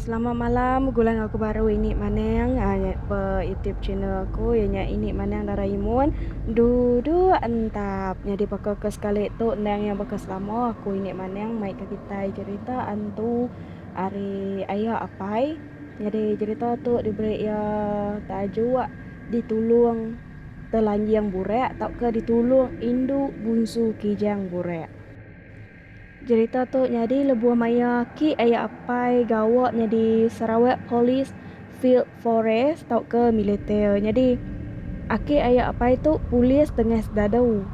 Selamat malam begulai enggau aku baru ini maneng ba YouTube channel aku iya nya ini maneng Doraemon duduk entap. Nyadi baka ke sekali tu endang iya baka selama aku ini maneng maika kitai cherita hantu ari aya apai. Nyadi jerita tu diberi iya tajuk Ditulung Telanjing Burak tauka Ditulung Indu Bunsu Kijang Burak. Jerita tu nyadi lebuh maya aki aya apai gawa nyadi Sarawak Police Field Forest tauka militer. Nyadi aki aya apai tu polis tengah sedadu.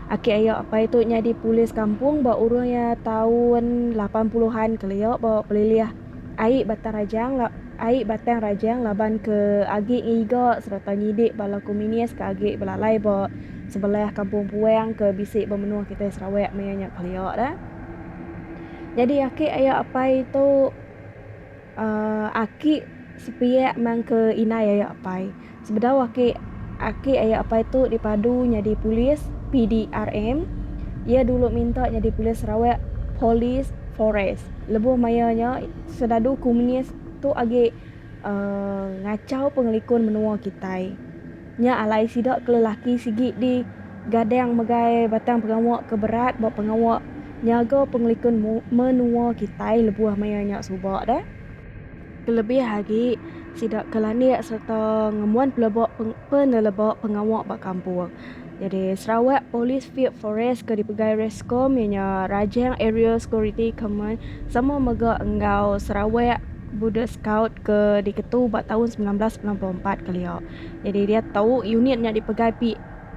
Aki aya apai tu nyadi polis kampung ba urung iya taun lapan puluhan kelia ba Pelilih. Ai batang rajang la ai batang rajang laban ke agi ngiga sereta nyidik bala komunis ke agi belalai ba sebelah kampung puang ke bisi ba menua kitai Sarawak maya nya kelia da. Nyadi aki aya apai tu uhh aki sepiak mangke indai aya apai. Sebedau aki aki aya apai tu dipadu nyadi polis PDRM, iya dulu minta nyadi polis Sarawak, Police Forest. Lebuh maya nya serdadu komunis tu agi uhh ngachau pengelikun menua kitai. Nya alai sida ke lelaki sigi di gadang megai batang pengawa ke berat ba pengawa nyaga pengelikun menua kitai lebuh maya nya suba deh. Kelebih agi, sida ke landik sereta ngembuan pelebok peneleba pengawa ba kampung. Nyadi Sarawak Police Field Force ke dipegai Rescom iya nya Rajang Aerial Security Command sama mega enggau Sarawak Border Scout ke diketu ba taun semilan belas semilan puluh empat kelia. Nyadi diatu unit nya dipegai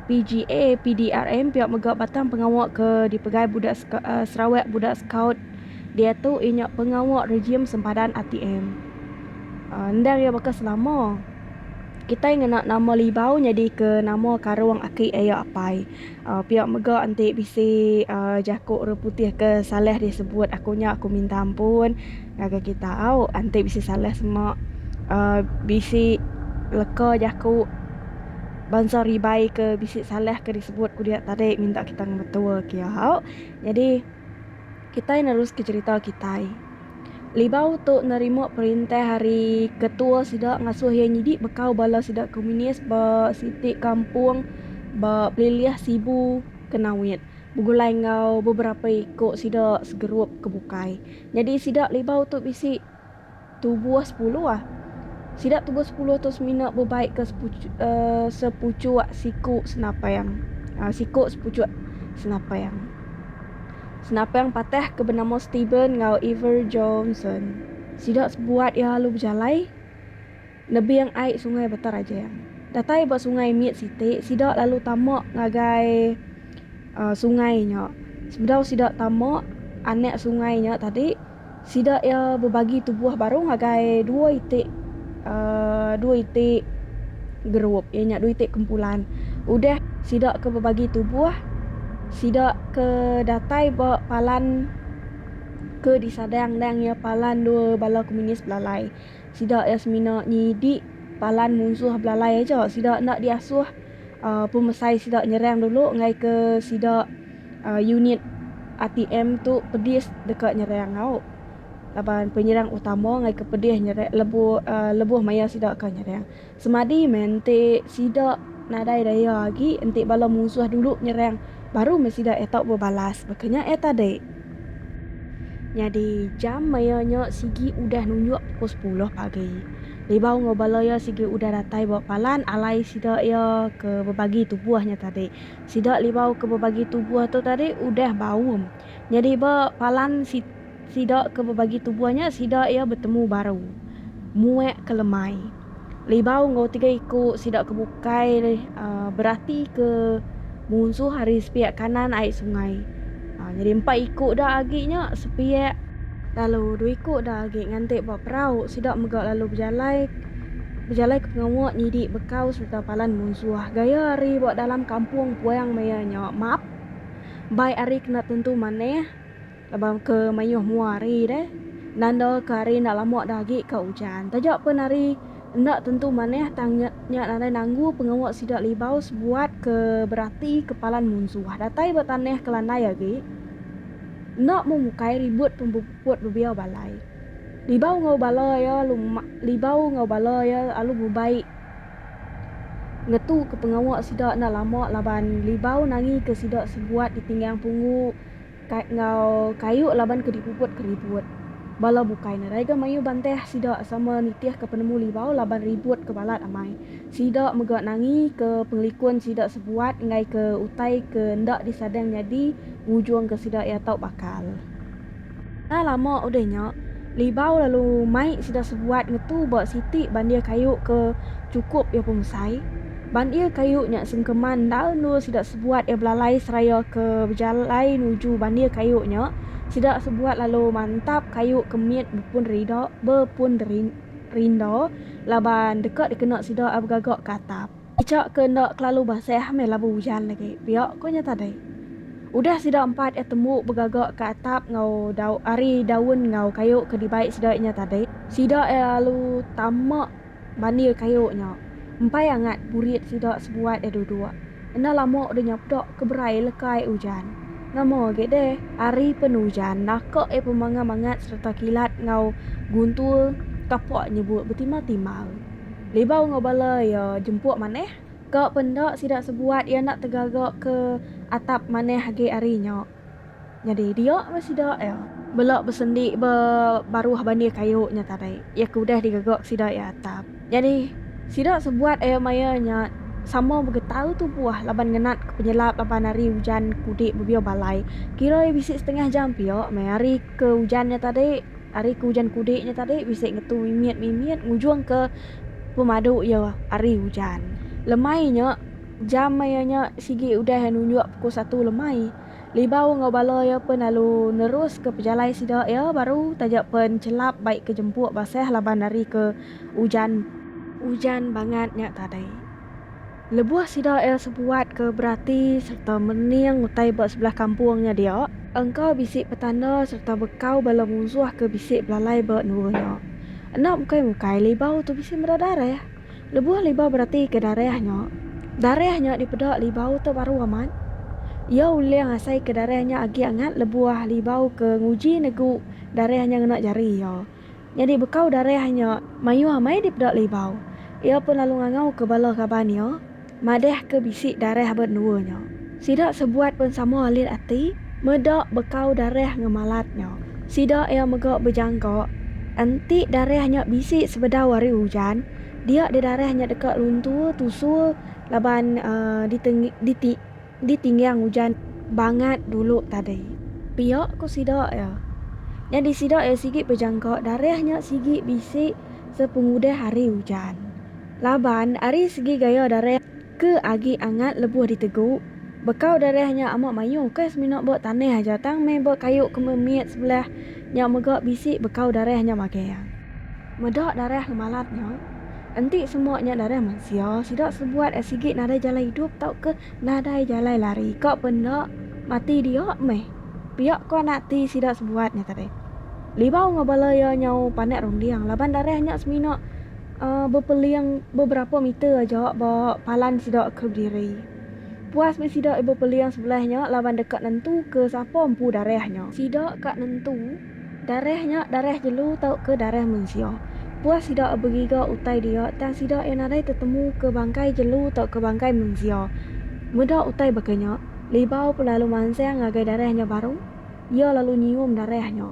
PGA PDRM pia mega batang pengawa ke dipegai Sarawak Border Scout. diatu inya pengawa rejim sempadan ATM. Endang iya baka selama, kitai ngena nama Libau nyadika nama karung aki iya apai. Pia mega enti bisi jaku orang putih ke salah disebut aku nya aku minta ampun ngagai kita au enti bisi salah sema bisi leka jaku bansa ribai ke bisi salah ke disebut ku dia tadi minta kita ngemetua kiau. Nyadi. Kitai neruska cherita kitai. Libau tu nerima perintah ari ketua sida ngasuh iya nyidi bekau bala sida komunis ba siti kampung ba Pelilih Sibu ke Nawit begulai enggau beberapa iku sida segerup ke bukai. Nyadi sida Libau tu bisi. Tubuh sepuluh. Sida tubuh sepuluh tu semina bebaik ke sepuchuk, uh, sepuchuk siku senapang. Uh, siku sepuchuk senapang. Senapang patah ke benama Stephen ngau Ever Johnson. Sida sebuat iya lalu bejalai. Nebing ai sungai Batang Rajang. Datai ba sungai mit siti, sida lalu tama ngagai sungai nya. Sebedau sida tama anak sungai nya tadi, sida iya bebagi tubuh baru ngagai dua iti dua iti gerup iya nya dua iti kumpulan. Udah sida ke bebagi tubuh, sida ke datai ba palan ke disadang endang iya palan dua bala komunis belalai. Sida iya semina nyidi palan munsuh belalai aja. Sida enda diasuh pemesai sida nyerang dulu enggai ke sida unit RTM tu pedis deka nyerang nyau. Laban penyerang utama enggai ke pedis nyerang lebuh lebuh maya sida ka nyerang. Semadi meh enti sida nadai daya agi enti bala munsuh dulu nyerang baru meh sida iya tau bebalas baka nya iya tadi. Nyadi jam maya nya sigi udah nunjuk pukul sepuluh pagi. Libau enggau bala iya sigi udah datai ba palan alai sida iya ke bebagi tubuh nya tadi. Sida libau ke bebagi tubuh tu tadi udah baum. Nyadi ba palan si. Sida ke bebagi tubuh nya sida iya betemu baru, muek ke lemai. Libau enggau tiga iku sida ke bukai berati ke munsuh ari sepiak kanan ai sungai. Nyadi empat iku da agi nya sepiak. Lalu dua iku da agi nganti ba perau sida mega lalu bejalai bejalai ke pengawa nyidi bekau sereta palan munsuh. Gaya ari ba dalam kampung puang maya nya map bai ari kena tentu manah. Laban ke mayuh mua hari deh, nanda ke hari enda lama dah agi ka ujan. Taja pen hari enda tentu manah tang nya nya nadai nanggu pengawa sida libau sebuat ke berati ke palan munsuh datai ba tanah ke landai agi. Enda mung ukai ribut pempeput bebiau balai. Libau enggau bala iya alu libau enggau bala iya alu bebai ngetu ke pengawa sida enda lama laban libau nangi ke sida sebuat ditinggang punggu. Kai enggau kayu laban ke dipuput ke ribut. Bala bukai nadai ga mayuh bantah sida sama nitih ke penemu libau laban ribut ke balat amai. Sida mega nangi ke pengelikun sida sebuat enggai ke utai ke enda disadang nyadi ngujung ke sida iya tau bakal. Enda lama udah nya, libau lalu mai sida sebuat ngetu ba siti bandih kayu ke chukup iya pemesai. Bandir kayu nya sungkeman endal endur sida sebuat iya belalai seraya ke bejalai nuju bandir kayu nya, sida sebuat lalu mantap kayu ke mit bepun rida bepun rinda laban deka dikena sida ai begaga ke atap. Icha ke enda kelalu basah meh labu ujan agi pia ko nya tadi. Udah sida empat iya tembu begaga ke atap enggau dau ari daun enggau kayu ke dibai sida iya nya tadi, sida iya lalu tama Bandil kayu nya. Empai angat burit sida sebuat iya duduk. Enda lama deh nya peda ke berai lekai ujan. Nama agi deh ari pen ujan naka iya pemanga mangat sereta kilat enggau guntur tapa nyebut betimar-timar. Libau enggau bala iya jempuk manah. Ka pen enda sida sebuat iya enda tegaga ke atap manah agi ari nya. Nyadi dia meh sida iya. Bela besendi ba baruh bandir kayu nya tadi, iya ke udah digegak sida iya atap. Nyadi sida sebuat iya maya nya sama begetau tubuh laban ngenat ke penyelap laban hari ujan ke udik bebiau balai. Kira iya bisi setengah jam pia meh hari ke ujan nya tadi, hari ke ujan ke udik nya tadi bisi ngetu mimit mimit ngujung ke pemadu iya hari ujan. Lemai nya. Jam maya nya sigi udah nunjuk pukul satu lemai. Libau enggau bala iya pen lalu neruska pejalai sida iya baru taja pen chelap bai ke jempuk basah laban ari ke ujan. Ujan bangat nya tadi lebuh sida iya sebuat ke berati serta mening utai ba sebelah kampung nya dia. Engka bisi petanda serta bekau bala munsuh ke bisi belalai ba endua nya. Enda mukai-mukai Libau tu bisi meda darah. Lebuh Libau beratika darah nya, darah nya dipeda Libau tu baru amat. Iya ulih ngasaika darah nya agi angat lebuh Libau ke nguji negu darah nya ngena jari iya. Nyadi bekau darah nya mayuh amai dipeda Libau. Iya pun lalu ngangauka bala kaban iya. Madah ke bisi darah ba endua nya. Sida sebuat pen sama alit ati, meda bekau darah ngemalat nya. Sida iya mega bejangka, enti darah nya bisi sebedau ari ujan, dia deh darah nya deka luntur tusur laban diteng diti Di tinggang ujan bangat dulu tadi. Pia ku sida iya. Nyadi sida iya sigi bejangka darah nya sigi bisi sepengudah hari ujan. Laban ari segi gaya darah ke agi angat lebuh ditegu, bekau darah nya amat mayuh ukai semina ba tanah aja tang meh ba kayu ke mit sebelah nya mega bisi bekau darah nya magang. Meda darah ngemalat nya, enti semua nya darah mensia, sida sebuat ai sigi nadai jalai idup tauka nadai jalai lari ka pe enda, mati dia meh. Pia ko anak ati sida sebuat nya tadi. Libau enggau bala iya nyau panak runding laban darah nya semina uhh bepeling beberapa meter aja ba palan sida ke bediri. Puas meh sida bepeling sebelah nya laban deka nentuka sapa empu darah nya. Sida ka nentu. Darah nya darah jelu tauka darah mensia. Puah sida begiga utai dia tang sida iya nadai tetemuka bangkai jelu tauka bangkai mensia. Meda utai baka nya, Libau pun lalu mansang ngagai darah nya baru, iya lalu nyium darah nya.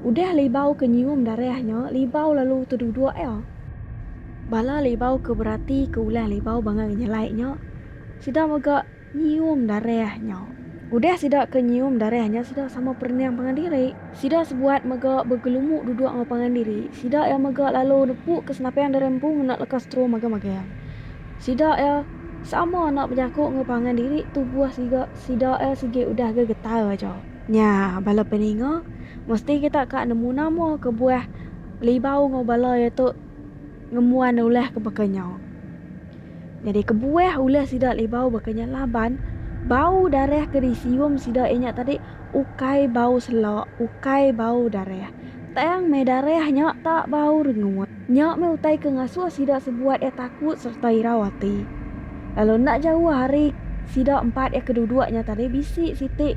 Udah Libau ke nyium darah nya, Libau lalu teduduk iya. Bala Libau ke beratika ulah Libau bangang nyelai nya, sida mega. Nyium darah nya. Udah sida ke nyium darah nya sida sama perening pangan diri. Sida sebuat mega begelumuk duduk enggau pangan diri. Sida iya mega lalu nepuk ke senapang darah empu ngena leka straw magang-magang. Sida iya sama enda bejaku enggau pangan diri tubuh siga sida iya sigi udah ga getar aja. Nya bala peninga, mesti kita ka nemu nama kebuah Libau enggau bala iya tu ngembuan ulah ke baka nya. Nyadi kebuah ulah sida libau baka nya laban bau darah ke disium sida iya nya tadi ukai bau selok, ukai bau darah. Tang meh darah nya tak bau rengut. Nya meh utai ke ngasuh sida sebuat iya takut sereta irau ati. Lalu enda jauh ari sida empat iya ke duduk nya tadi bisi siti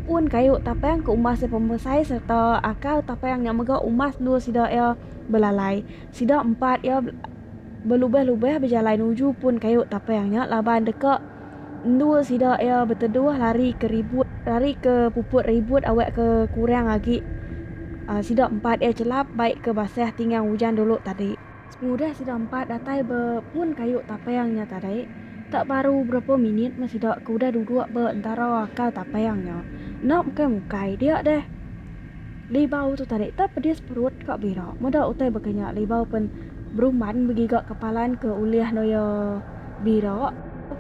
pun kayu tapang ke umbas iya pemesai sereta akal tapang nya mega umbas endur sida iya belalai. Sida empat iya. belubah-lubah bejalai nuju pun kayu tapang nya laban deka endur sida iya beteduh lari ke ribut lari ke puput ribut awak ke kurang agi sida empat iya chelap bai ke basah tinggang ujan dulu tadi. Pengudah sida empat datai ba pun kayu tapang nya tadi, tak baru berapa minit meh sida ke udah duduk ba entara akal tapang nya. Enda mukai-mukai dia deh. Libau tu tadi tau pedis perut ka bira. Meda utai baka nya libau pen beruman begiga kepalan ke ulih anu iya bira.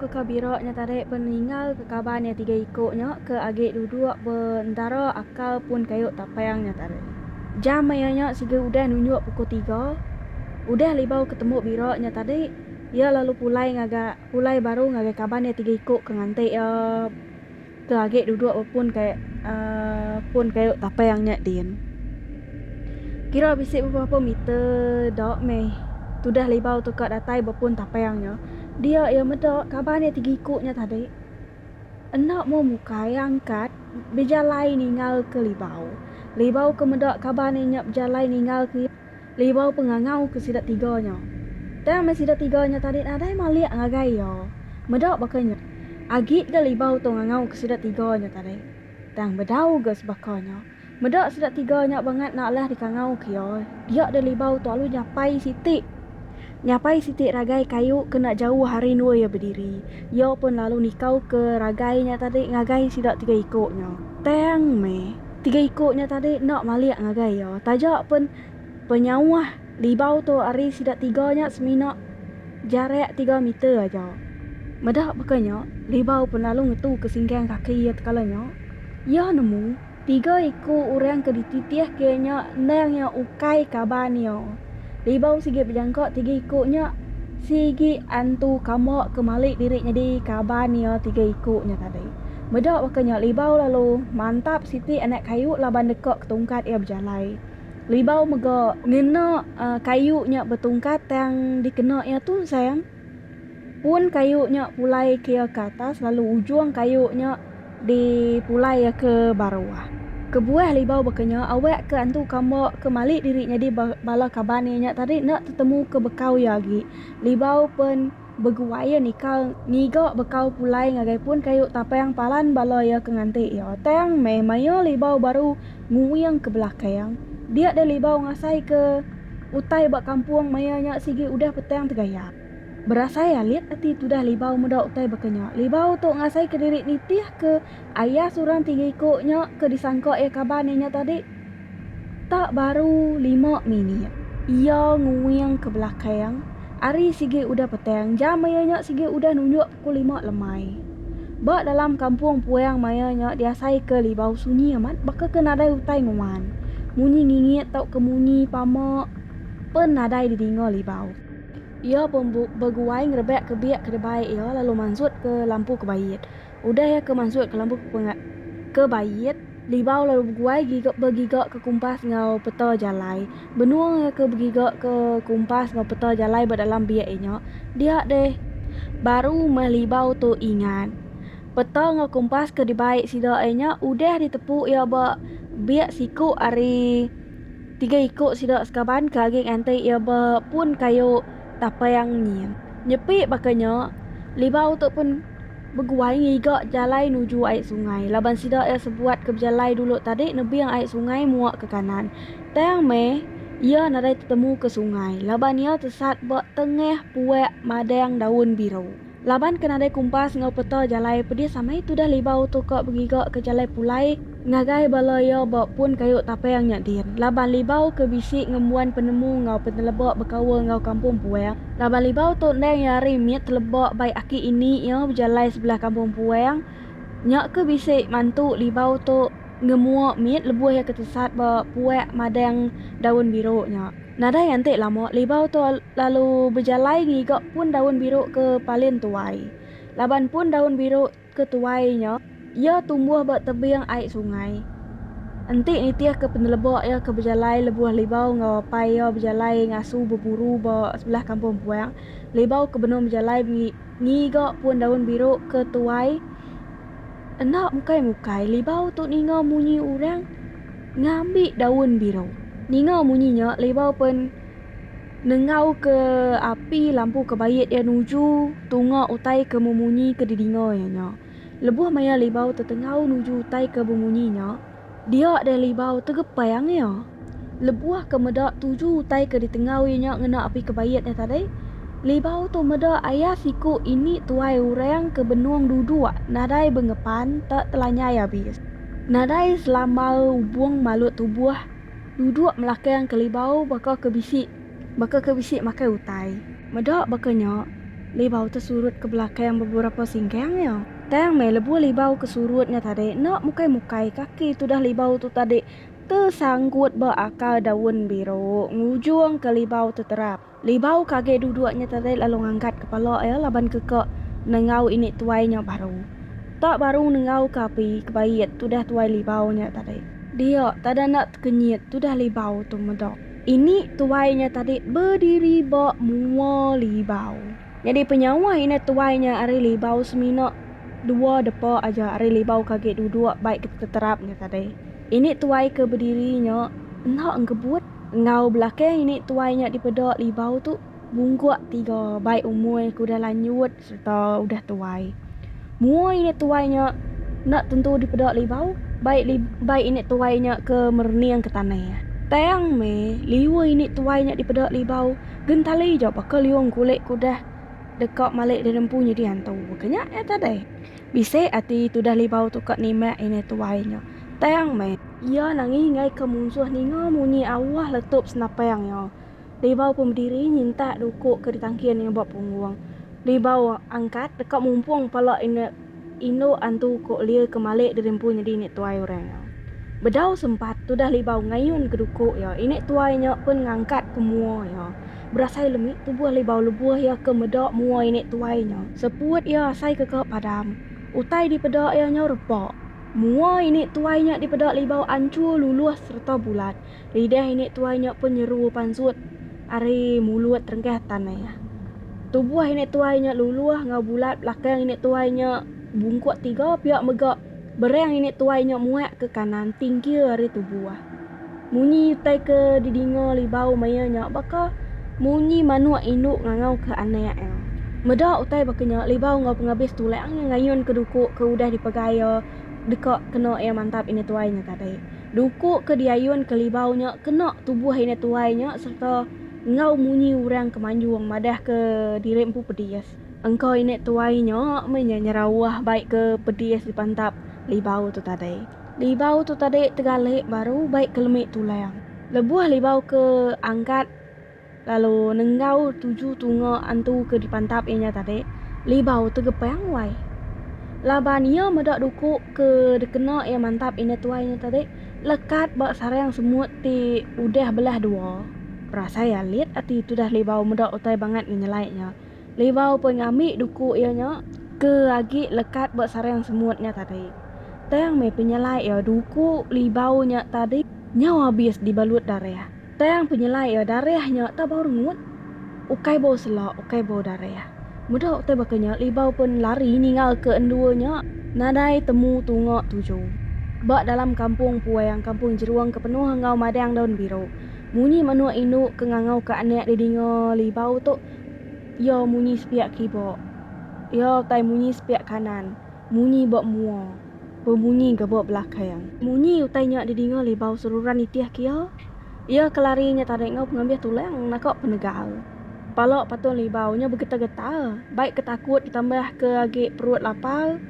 Ke ka bira nya tadi pen ningal ke kaban iya tiga iko nya ke agi duduk be entara akal pun kayu tapang nya tadi. Jam iya nya siga udah nunjuk pukul tiga. Udah libau ke tembu bira nya tadi iya lalu pulai ngaga pulai baru ngagai kaban iya tiga iko ke nganti iya. Ke agi duduk bepun kai pun kayu tapai ang nya din. Kira bisi beberapa meter da meh tudah libau tu ka datai bepun tapai ang nya. Dia iya meda kaban iya tigiku nya tadi. Enda mua mukai iya angkat bejalai ningalka libau. Libau ke meda kaban iya nya bejalai ningalka iya. Libau pengangau ke sida tiga nya. Tang meh sida tiga nya tadi nadai malik ngagai iya. Meda baka nya, agi ga Libau tu ngangau ke sida tiga nya tadi. Tang bedau ga sebaka nya. Meda sida tiga nya bangat enda alah dikangau ke iya. Dia deh Libau tu alu nyapai siti. Nyapai siti ragai kayu kena jauh ari endua iya bediri, iya pun lalu nikauka ragai nya tadi ngagai sida tiga iku nya. Tang meh, tiga iku nya tadi enda malik ngagai iya, taja pun penyauh libau tu ari sida tiga nya semina jarak tiga meter aja. Meda baka nya, Libau pun lalu ngetuka singgang kaki iya tekala nya. Iya nemu. Tiga iku orang ke dititihka nya endang iya ukai kaban iya. Ribau sigi bejangka tiga iku nya, sigi antu kamba ke mali diri nyadi kaban iya tiga iku nya tadi. Meda baka nya Ribau lalu mantap siti anak kayu laban deka ketungkat iya bejalai. Ribau mega ngena kayu nya betungkat tang dikena iya tunsang. pun kayu nya pulai ke iya ke atas lalu ujung kayu nya di pulai iya ke baruh. Kebuah libau baka nya awak ke antu kamba ke mali diri nyadi bala kaban iya nya tadi enda tetemu ke bekau iya agi. Libau pen beguai iya nikal ngiga bekau pulai ngagai pun kayu tapang palan bala iya ke nganti iya. Tang meh mayuh libau baru. Nguing ke belakang, dia deh libau ngasai ke utai ba kampung maya nya sigi udah petang tegayap. Berasai alit ati tudah libau meda utai baka nya, libau tu ngasai ke diri nitih ke ayas orang ti ngiku nya ke disangka iya kaban iya nya tadi. Tak baru lima minit, iya nguing ke belakang, ari sigi udah petang jam maya nya sigi udah nunjuk. Ku Lima Lemai. Ba dalam kampung puang maya nya diasaika libau sunyi amat baka ke nadai utai nguan. Munyi ngingit tauka munyi pama pen nadai didinga libau. Iya pun beguai ngerebakka biak ke debai iya lalu mansutka lampu ke bait. Udah iya ke mansutka lampu ke bait, libau lalu beguai giga begigaka kumpas enggau peta jalai. Benung iya ke begiga ke kumpas enggau peta jalai ba dalam biak iya nya, dia deh. Baru meh Libau tu ingat, peta enggau kumpas ke dibai sida iya nya udah ditepu iya ba biak siku ari tiga iku sida sekaban ke agi nganti iya ba pun kayu tapang nyin. Nyepi baka nya, Libau tu pun beguai ngiga jalai nuju ai sungai laban sida iya sebuat ke bejalai dulu tadi nebing ai sungai muak ke kanan. Tang meh, iya nadai tetemu ke sungai laban iya tesat ba tengah puak madang daun biru. Laban ke nadai kumpas enggau peta jalai pedis amai tudah Libau tu ka begiga ke jalai pulai ngagai bala iya ba pun kayu tapang nya din. Laban Libau ke bisi ngembuan penemu enggau peneleba bekaul enggau kampung puang. Laban Libau tu endang iya ari mit teleba bai aki ini iya bejalai sebelah kampung puang nya ke bisi mantu Libau tu. ngemua mit lebuh iya ke tesat ba puak madang daun biru nya. Nadai anti lama Libau tu lalu bejalai ngiga pun daun biru ke palin tuai. Laban pun daun biru ke tuai nya iya tumbuh ba tebing ai sungai. Enti nitihka peneleba iya ke bejalai lebuh Libau enggau apai iya bejalai ngasu beburu ba sebelah kampung puak, Libau ke benung bejalai ngiga pun daun biru ke tuai. Enda mukai-mukai Libau tu ninga munyi urang ngambi daun biru. Ninga munyi nya Libau pen nenggau ke api lampu ke bait iya nuju tunga utai ke memunyi ke didinga iya nya. Lebuh maya Libau tetenggau nuju utai ke bemunyi nya. Dia deh libau tegepai angea. Lebuh ke meda tuju utai ke ditengau iya nya ngena api kebait nya tadi, libau tu meda aya siku ini tuai orang ke benung duduk nadai bengepan te telanyai abis. Nadai selama ubung malut tubuh duduk melakang ke libau baka ke bisi baka ke bisi makai utai. Meda baka nya, libau te surut ke belakang beberapa singkang iya. Tang meh lebuh libau ke surut nya tadi enda mukai-mukai kaki tudah libau tu tadi tesanggut ba akar daun biru ngujungka libau tu terap. Libau ke agi duduk nya tadi lalu ngangkat kepala iya laban keka nengau ini tuai nya baru. Tak baru nengauka api kebait tudah tuai libau nya tadi. Dia tada enda tekenyit tudah libau tu meda. Ini tuai nya tadi bediri ba mua libau. Nyadi penyawa indah tuai nya ari libau semina dua depa aja ari libau ke agi duduk bai keterap nya tadi. Ini tuai ke bediri nya enda engkebut enggau belakang ini tuai nya dipeda libau tu bungkuk tiga bai umur ke udah lanjut sereta udah tuai. Mua ini tuai nya enda tentu dipeda libau bai bai ini tuai nya ke merening ke tanah. Tang meh liur ini tuai nya dipeda libau. Gentali jauh baka liung kulit kudah deka malik dirempu nyidi antu. Baka nya iya tadai. Bisi ati tudah libau tu ka nimbak ini tuai nya. Tang meh. Iya nangi ngaika munsuh ninga munyi awah letup senapang iya. Libau pun bediri nyintak duku ke ditangkin iya ba punggung. Libau angkat deka mumpung pala ini. Indu antu ko lia ke malik diri empu nyedi nek tuai orang nya. Bedau sempat tudah libau ngayun ke duko iya, inek tuai nya pun ngangkat ke mua iya. Berasai lemi tubuh libau lebuh iya ke meda mua inek tuai nya. Seput iya asai ke ka padam. Utai dipeda iya nyau repa. Mua inek tuai nya dipeda libau anchur luluh sereta bulat. Lidah inik tuai nyok pun nyeru pansut ari mulut rengkah tan aya. Tubuh inik tuai nyok luluh enggau bulat belakang inik tuai nyok bungkuk tiga piak mega berang inik tuai nyok muak ke kanan tingkir ari tubuh. Munyi utai ke didinga Libau maya nyok baka munyi manuk induk ngangau ke anak iya. Meda utai baka nyok Libau enggau pengabis tulang iya ngayun ke duku ke udah dipegai iya deka kena iya mantap inik tuai nyok tadi. Duku ke diayun Kelibau nya kena tubuh indai tuai nya sereta enggau munyi orang ke manjung madah ke diri empu pedis. Engka indai tuai nya meh inya nyerauh bai ke pedis dipantap Libau tu tadi. Libau tu tadi tegalik baru bai ke lemi tulang. Lebuh Libau ke angkat. Lalu nenggau tuju tunga antu ke dipantap iya nya tadi, Libau tegepang wai. Laban iya meda duku ke dikena iya mantap indah tuai nya tadi lekat ba sarang semut ti udah belah dua. Berasai alit ati tudah Libau meda utai bangat ngenyelai nya. Liwau pun ngambi duku iya nya ke agi lekat ba sarang semut nya tadi. Tang meh penyelai iya duku Liwau nya tadi nyau abis dibalut darah. Tang penyelai iya darah nya tak bau rengut. Ukai bau sela, ukai bau darah. Meda utai baka nya Liwau pun lari ninggalka endua nya nadai temu tunga tuju. Ba dalam kampung puang, kampung Jerung ke penuh enggau madang daun biru. Munyi menua indu ke ngangauka anak didinga Liwau tu Iya munyi sepiak kiba. Iya utai munyi sepiak kanan. Munyi ba mua. Bemunyi ga ba belakang. Munyi utai nya didinga Libau seruran nitih ke iya. Iya ke lari nya tadi enggau pengambih tulang naka penegal. Pala patung Libau nya begetar-getar. Bai ke takut ditambah ke agi perut lapar.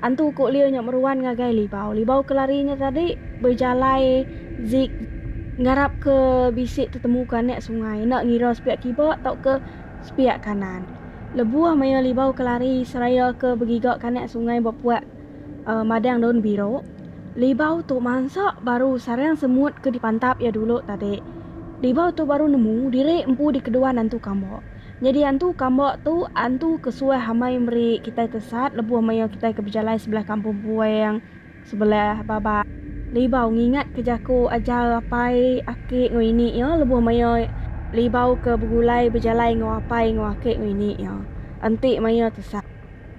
Antu ku Lio nya meruan ngagai Libau. Libau ke lari nya tadi bejalai zig ngarap ke bisi tetemu ke anak sungai enda ngira sepiak kiba tauka sepiak kanan. Lebuh maya Libau ke lari seraya ke begiga ke anak sungai ba puak madang daun biru, Libau tu mansa baru sarang semut ke dipantap iya dulu tadi. Libau tu baru nemu diri empu di keduan antu kamba. Nyadi antu kamba tu antu ke suah amai meri kitai tesat lebuh maya kitai ke bejalai sebelah kampung puang, sebelah baba. Libau ngingat ke jaku ajar apai, aki enggau ini iya lebuh maya Libau ke begulai bejalai enggau apai enggau aki enggau ini iya. Enti maya tesat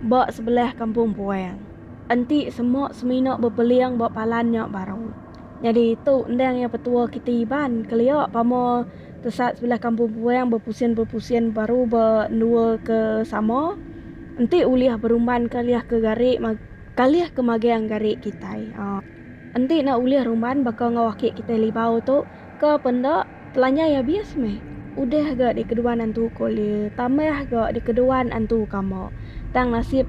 ba sebelah kampung puang. Enti semua semina bepeling ba palan nya baru. Nyadi tu endang iya petua kiti Iban kelia pama tesat sebelah kampung puang bepusin-bepusin baru ba endua ke sama enti ulih berumban kalih ke gari kalih ke magang gari kitai. Enti ne ulih rumban baka enggau aki kitai Libau tu ke penda. Telanjai abis meh. Udah ga dikeduan antu ko le tambah ga dikeduan antu kama. Tang nasib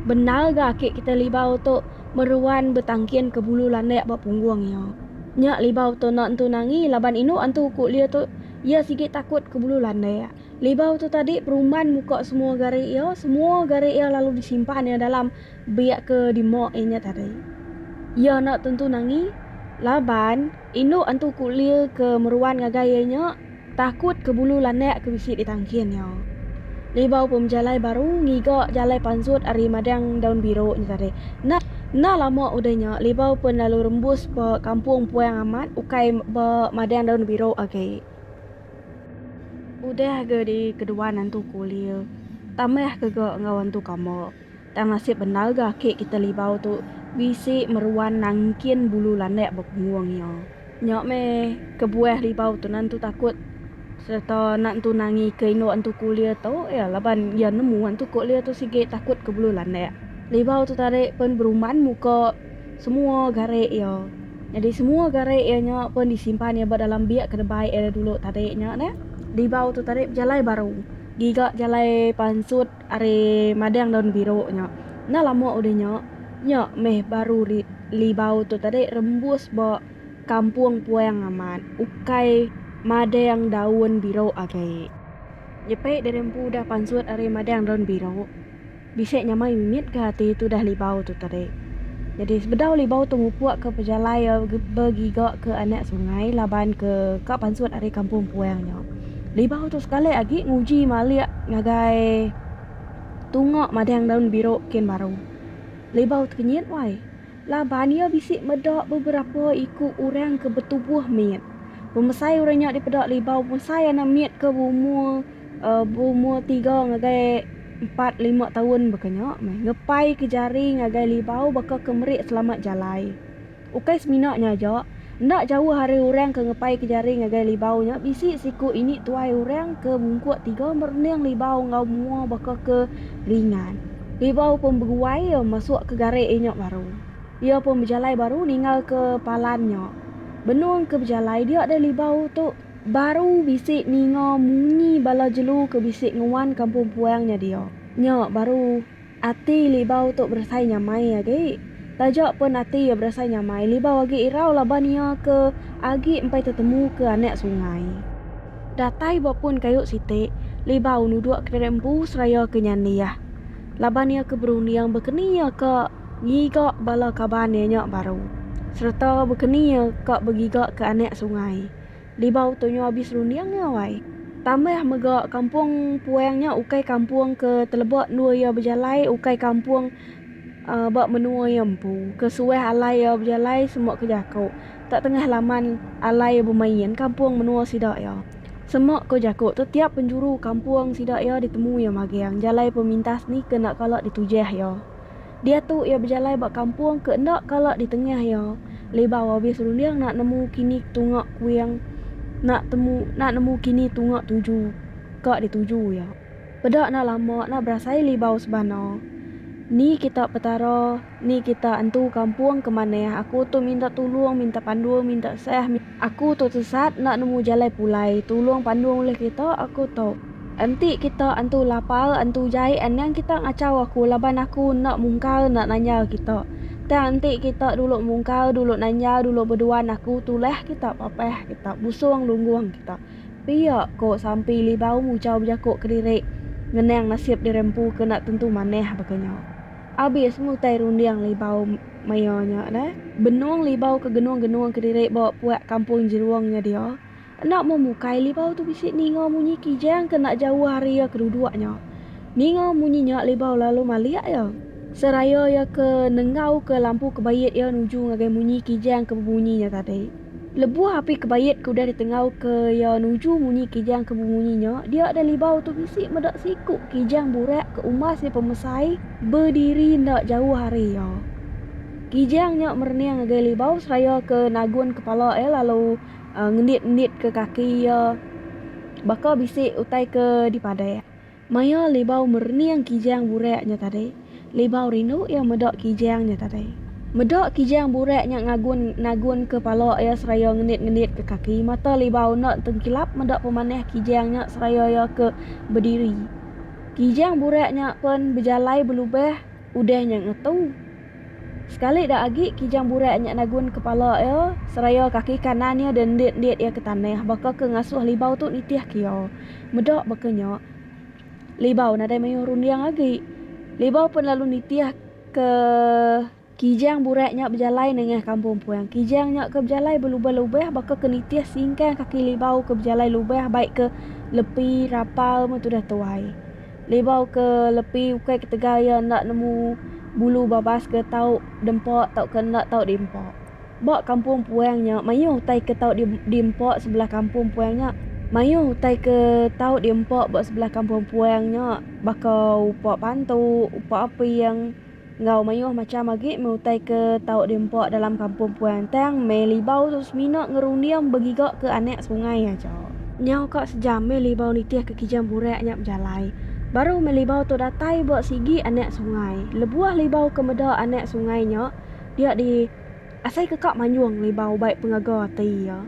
bendar ga aki kita Libau tu meruan betangkin ke bulu landak ba punggung iya. Nya Libau tu enda entu nangi laban inu antu ko le tu iya sigi takut ke bulu landak. Libau tu tadi perumban muka semua gari iya, semua gari iya lalu disimpan iya dalam biak ke dimok iya nya tadi. Iya enda tentu nangi laban. Indu Antu Kulir ke meruan ngagai iya nya takut ke bulu landak ke bisi di tangkin iya. Libau pemejalai baru ngiga jalai pansut ari Madang Daun Biru nya tadi. Enda enda lama udah nya Libau pun lalu rembus ba Kampung Puang Amat ukai ba Madang Daun Biru agi. Udah ga di keduan Antu Kulir tambah ke ga enggau Antu Kamba. Tang nasib bendar ga aki kita Libau tu bisi meruan nangkin bulu landak bepunggung iya. Nya meh kebuah Libau tu nentu takut sereta nentu nangika indu Entu Ku Lia tu iya laban iya nemu Entu Ku Lia tu sigi takut ke bulu landak. Libau tu tadi pen berumban muka semua gare iya. Nyadi semua gare iya nya pen disimpan iya ba dalam biak ke debai iya dulu tadi nya neh. Libau tu tadi bejalai baru giga jalai pansut. Ari madang daun biru nya. Enda lama udah nya, nya meh baru libau tu tadi rembus ba kampung puang amat ukai madang daun biru agi. Nyepi diri empu udah pansut ari madang daun biru, bisi nyamai mimit ga ati tudah libau tu tadi. Nyadi sebedau libau tu mupuk ke pejalai begiga ke anak sungai laban ke ka pansut ari kampung puang nya. Libau tu sekali agi nguji malik ngagai tunga madang daun biru kin baru. Libau tu kenyit wai. Laban iya bisi meda beberapa iku orang ke betubuh mit. Pemesai orang nya dipeda Libau bonsai anak mit ke beumur uhh beumur tiga ngagai empat lima taun baka nya meh ngepaika jari ngagai Libau baka ke meri selamat jalai. Ukai semina nya aja, enda jauh ari orang ke ngepaika jari ngagai libau nya bisi siku ini tuai orang ke bungkuk tiga merening libau enggau mua baka ke ringan. Libau pun beguai iya masukka garik inya baru. Iya pun bejalai baru ninggalka palan nya. Benung ke bejalai dia deh libau tu baru bisi ninga munyi bala jelu ke bisi nguan kampung puang nya dia. Nya baru. Ati Libau tu berasai nyamai agi. Taja pun ati iya berasai nyamai, Libau agi irau laban iya ke agi empai tetemu ke anak sungai. Datai ba pun kayu siti, Libau nuduk kedirik empu seraya ke nyandih laban iya ke berunding bekeni iya ka ngiga bala kaban iya nya baru sereta bekeni iya ka begiga ke anak sungai. Libau tu nyu abis runding nya awai. Tambah mega kampung Puang nya ukai kampung ke teleba endur iya bejalai ukai kampung ba menua iya empu. Ke suah alai iya bejalai semua ke jaku. Tak tengah laman alai iya bemain kampung menua sida iya. Semua ke jaku tu tiap penjuru kampung sida iya ditemu iya magang jalai pemintas ni ke enda kala ditujah iya. Diatu iya bejalai ba kampung ke enda kala di tengah iya. Libau abis runding nak nemu kini tunga kuing nak temu nak nemu kini tunga tuju ka di tuju iya. Peda enda lama nak berasai libau sebana. Ni kita Petara, ni kita entu kampung ke manah aku tu minta tulung, minta pandu, minta sah, minta. Aku tu tesat enda nemu jalai pulai tulung pandung ulih kita aku tu. Enti kita antu lapar antu jai anang kita ngachau aku laban aku enda mungkar enda nanya kita. Tang enti kita dulu mungkar dulu nanya dulu beduan aku tulah kita papah kita busung lunggung kita. Pia ko Sampi Libau muchau bejaku kediri ngenang nasib diri empu ke enda tentu manah baka nya. Abis mutai runding Libau. Maioh nya deh. Benung libau ke genung-genung kediri ba puak kampung Jerung nya dia, enda meh mukai libau tu bisi ninga munyi kijang ke enda jauh ari iya ke duduk nya. Ninga munyi nya libau lalu malik iya. Seraya iya ke nenggau ke lampu kebait iya nuju ngagai munyi kijang ke bebunyi nya tadi. Lebuh api kebait ke udah ditengauka iya nuju munyi kijang ke bemunyi nya, dia dah libau tu bisi meda siku kijang burak ke umbas nya pemesai bediri enda jauh ari iya. Kijang nya merening ngagai libau seraya ke nagun kepala iya lalu ngendit-ngenditka kaki iya baka bisi utai ke dipadah. Maya Libau merening Kijang Burak nya tadi, Libau rindu iya meda Kijang nya tadi. Meda Kijang Burak nya ngagun nagunka pala iya seraya ngenit-ngenitka kaki, mata Libau enda tengkilap meda pemanah Kijang nya seraya iya ke bediri. Kijang Burak nya pen bejalai belubah udah nya ngetu. Sekali da agi Kijang Burak nya nagun kepala iya seraya kaki kanan iya dendit-endit iya ke tanah baka ke ngasuh Libau tu nitih ke iya. Meda baka nya, Libau nadai mayuh runding agi. Libau pen lalu nitih ke. Kijang Burak nya bejalai nengah kampung Puang. Kijang nya ke bejalai belubah-lubah baka ke nitih singkang kaki Libau ke bejalai lubah bai ke lepi rapal meh tudah tuai. Libau ke lepi ukai ketegal iya enda nemu bulu babas ke tau diempa tauka enda tau diempa. Ba kampung puang nya mayuh utai ke tau diempa sebelah kampung puang nya. Mayuh utai ke tau diempa ba sebelah kampung puang nya baka upa pantu, upa aping. Enggau mayuh macham agi meh utai ke tau diempa dalam kampung puan tang meh libau tu semina ngerunding begiga ke anak sungai aja. Nyau ka sejam meh libau nitih ke kijang burak nya bejalai. Baru meh libau tu datai ba sigi anak sungai. Lebuh libau ke meda anak sungai nya dia di. Asai ke ka manjung libau bai pengaga ati iya.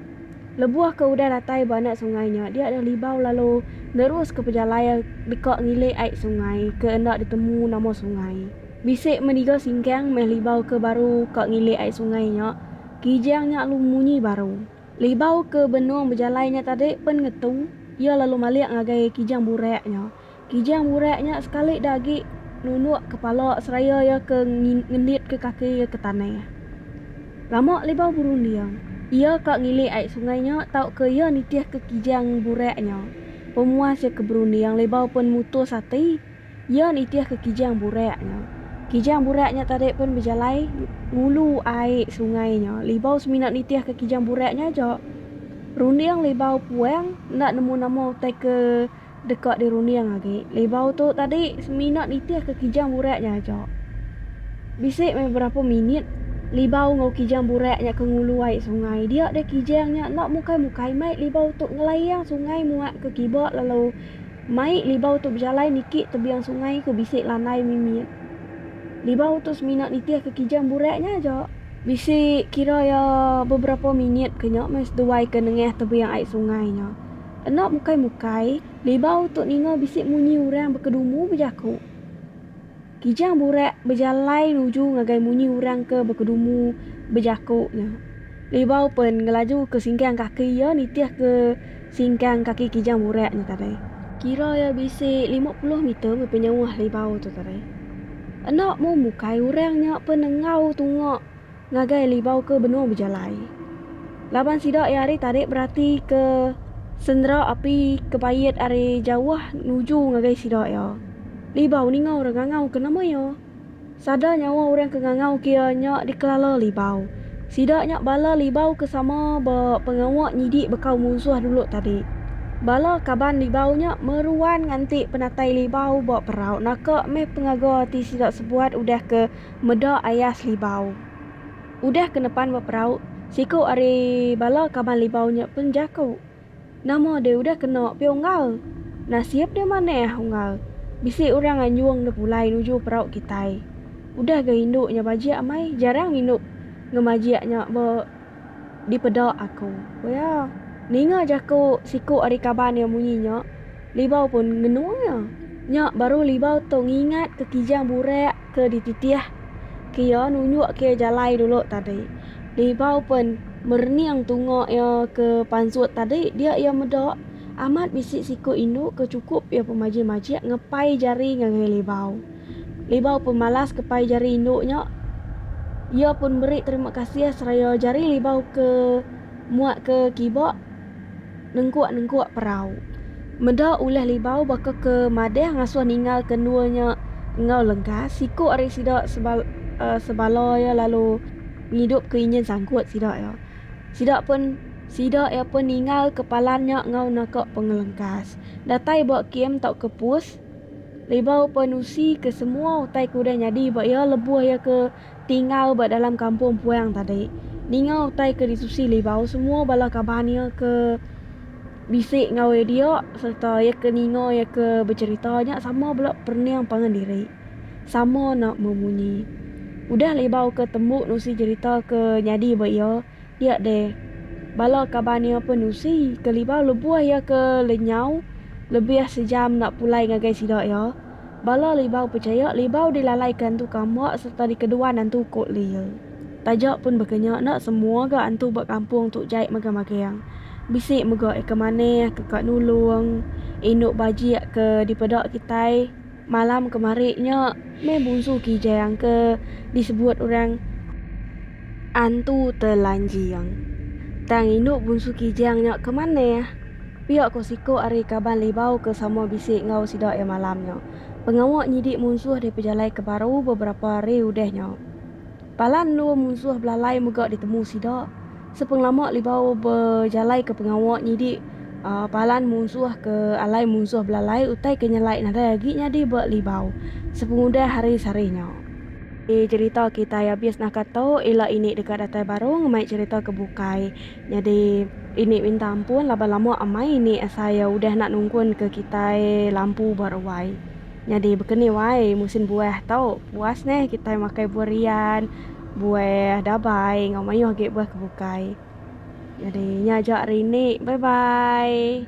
Lebuh ke udah datai ba enda sungai nya dia deh libau lalu nerus ke pejalai deka ngilik ai sungai ke enda ditemu nama sungai. Bisi meniga singkang meh libau ke baru ka ngilik ai sungai nya. Kijang nya alu munyi baru. Libau ke benung bejalai nya tadi pen ngetu iya lalu malik ngagai kijang burak nya. Kijang burak nya sekali da agi nunuk kepala seraya iya ke ngenditka kaki iya ke tanah. Lama Libau berunding, iya ka ngilik ai sungai nya tauka iya nitihka kijang burak nya. Pemuas iya ke berunding, Libau pen mutus ati iya nitihka kijang burak nya. Kijang burak nya tadi pen bejalai ngulu ai sungai nya. Libau semina nitihka kijang burak nya aja. Runding Libau puang enda nemu nama utai ke. Deka dirunding agi, libau tu tadi semina nitihka kijang burak nya aja. Bisi meh berapa minit libau enggau kijang burak nya ke ngulu ai sungai. Dia deh kijang nya enda mukai-mukai mai libau tu ngelayang sungai muak ke kiba lalu mai libau tu bejalai niki tebing sungai ke bisi lanai mimit. Libau tu semina nitihka kijang burak nya aja. Bisi kira iya beberapa minit ke nya meh seduai ke nengah tebing ai sungai nya. Enda mukai-mukai, Libau tu ninga bisi munyi urang bekedumu bejaku. Kijang Burak bejalai nuju ngagai munyi urang ke bekedumu bejaku nya. Libau pen ngelaju ke singkang kaki iya nitih ke singkang kaki Kijang Burak nya tadi. Kira iya bisi lima puluh meter meh penyauh Libau tu tadi. Enda mu mukai urang nya pen enggau tunga. ngagai libau ke benung bejalai. Laban sida iya ari tarik berati ke sendera api ke pait ari jauh nuju ngagai sida iya. Libau ninga orang ngangau ke nama iya. Sada nyawa orang ke ngangau ke iya nya dikelala libau. Sida nya bala libau ke sama ba pengawa nyidi bekau munsuh dulu tadi. Bala kaban libau nya meruan nganti penatai libau ba perau naka meh pengaga ati sida sebuat udah ke Meda Ayah Selibau. Udah ke nepan ba perau, siku ari bala kaban Libau nya pen jaku, Nama deh udah kena pia unggal? Nasib deh manah unggal. Bisi orang anjung deh pulai nuju perau kitai. Udah ga indu nya bajik amai jarang mindup ngemajik nya ba. dipeda aku. Ku iya, ninga jaku siku ari kaban iya munyi nya, Libau pun ngenung iya. Nya baru Libau tu ngingat ke Kijang burak ke dititih ke iya nunjuk ke iya jalai dulu tadi. Libau pun merening tunga iya ke pansut tadi dia iya meda amat bisi siku indu ke chukup iya pemajik-majik ngepai jari ngagai Libau. Libau pun malas ke pai jari indu nya. Iya pun meri terima kasih seraya jari Libau ke muat ke kiba nengkuk-nengkuk perau. Meda ulih Libau baka ke madih ngasuh ninggal ke endur nya enggau lengkas, siku ari sida sebala iya lalu ngidup ke injin sangkut sida iya. Sida pun sida iya pun ninggal ke palan nya enggau naka pengelengkas. Datai ba kem tauka pus. Libau Penusi ke semua utai ke udah nyadi ba iya lebuh iya ke tinggal ba dalam kampung puang tadi. Ninga utai ke ditusi Libau semua bala kaban iya ke bisi enggau iya dia sereta iya ke ninga iya ke becerita nya sama bala perening pangan diri. Sama enda memunyi. Udah Libau ke tembu nusi cerita ke nyadi ba iya Dia deh, bala kaban iya pun usi ke libau lebuh iya ke lenyau lebih sejam enda pulai ngagai sida iya. Bala libau pechaya libau dilalaika antu kambak sereta dikeduan antu uko lea. Taja pun baka nya enda semua ga antu ba kampung tu jai magang-magang. Bisi mega eka manah ke ka nulung indu bajik ke dipeda kitai. Malam kemari nya meh bungsu kijang ke disebut orang Antu Telanjing. Tang indu bungsu kijang nya ke manah. Pia ko siko ari kaban Libau ke sama bisi enggau sida iya malam nya. Pengawa nyidi munsuh dipejalai ke baru beberapa hari udah nya. Bala endur munsuh belalai mega ditemu sida. Sepengelama Libau bejalaika pengawa nyidi palan munsuh ke alai munsuh belalai utai ke nyelai nadai agi nyadi ba Libau sepengudah hari sehari nya. Ti cherita kitai abis naka tu ila ini deka datai baru ngemai cherita ke bukai. Nyadi ini minta ampun laban lama amai ini asai udah enda nungkunka kitai lampu ba ruai. Nyadi bekeni wai musin buah tu puas neh kitai makai buah rian, buah dabai enggau mayuh agi buah ke bukai. Nyadi nya aja hari ini. Bye bye.